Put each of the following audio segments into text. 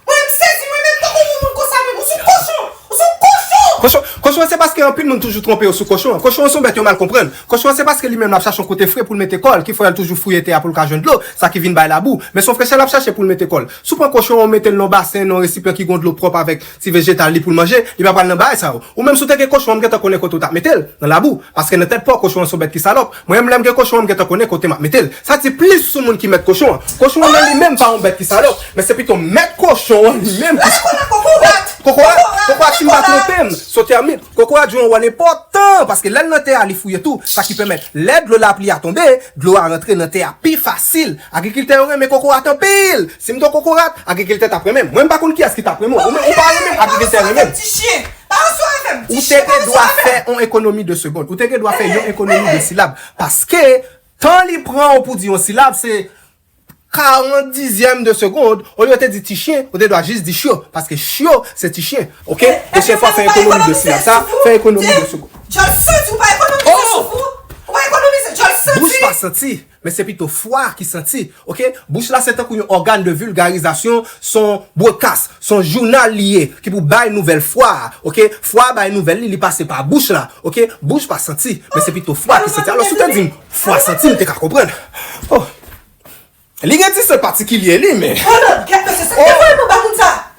Mwen m sezi mwen menm tankou yon moun konsa menm ou son kochon ou son kochon. Kochon kochon an se paske anpil moun toujou twonpe yo sou kochon an kochon an son bèt yo mal konprann kochon an se paske li menm lap chache yon kote fre poul mete kòl ki fè al toujou fouye tè a poul ka jwenn dlo sa ki vin bay labou men son frechè lap chache poul mete kòl sou pran kochon an ou metel nan yon basen nan yon resipyan ki gon dlo pwòp avèk ti vejetal li poul manje li pa pral nan bagay sa yo ou menm sou te gen kochon an m gentan konnen kote ou tap metel nan labou paske nan tèt paw kochon an son bèt ki salòp Mwen menm lèm gen kochon an m gentan konnen kote map metel. Sa di plis sou moun ki mèt kochon an. Kochon an nan li menm pa yon bèt ki salòp, men se pito mèt kochon an li menm ki salòp. Kokorat! Kokorat si m pa twonpe m, son tèmit. Kokorat jwe yon wòl enpòtan paske lèl nan tè a li fouye tou, sa ki pèmèt lè dlo lapli a tonbe, dlo a rantre nan tè a pi fasil. Agrikiltè yo renmen kokorat anpil! Si m t yon kokorat, agrikiltè tap renmen m. Mwen m pa konn kiyès ki tap renmen w, ou menm ou pa renmen m, agrikiltè renmen m. Pale sou avè m, ti chien pale sou avè m! Ou te gen dwa fè on ekonomi de segond. Ou te gen dwa fè yon ekonomi de silab. Paske, tan li pran ou pou di yon silab se 40 dizyèm de segond, olye ou te di ti chien, ou te dwa jis di chio. Paske chio se ti chien. Ok? Pwochen fwa fè ekonomi de silab sa, fè ekonomi de segond. Djòl santi ou pa ekonomize souf ou? Ou pa ekonomize djòl santi? Bouch pa santi. Men se pito fwa ki santi. Ok bouch la se tankou yon ògàn de vulgarizasyon son broadcast son jounal li ye ki pou bay nouvèl fwa a ok fwa a bay nouvèl li li pase pa bouch la ok bouch pa santi men se pito fwa ki santi alò si w te di m fwa santi m te ka konprann oh li gen ti sen patikilye li men oh.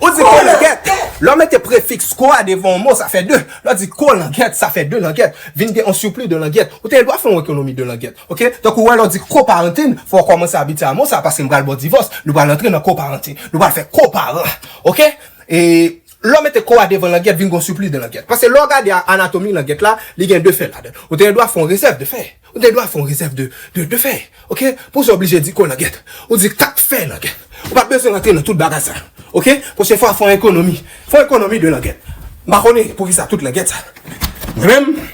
Ou di kolangèt. Lè w mete prefiks ko a devan yon mo, sa fè de. Lè w di kolangèt, sa fè de langèt. Vin gen yon sipli de langèt. Ou te gen dwa fè yon ekonomi de langèt. Ok? Donk ou wè lè w di koparantin, fò w kòmanse abitye a mo sa a paske m pral ba w divòs. Nou pral antre nan koparantin. Nou pral fè koparan. Ok? E lè w mete ko a devan langèt, vin gen yon sipli de langèt. Paske lè w gade anatomi langèt la, li gen de fè ladan l. Ou te gen dwa fè yon rezèv de fè. Ou gen dwa fè yon rezèv de fè ok pou sa oblije di ko langèt ou di 4 fè langèt ou pa bezwen rantre nan tout bagay sa ok pwochen fwa fè yon ekonomi fè yon ekonomi de langèt m pa konnen poukisa tout langèt sa mwen menm.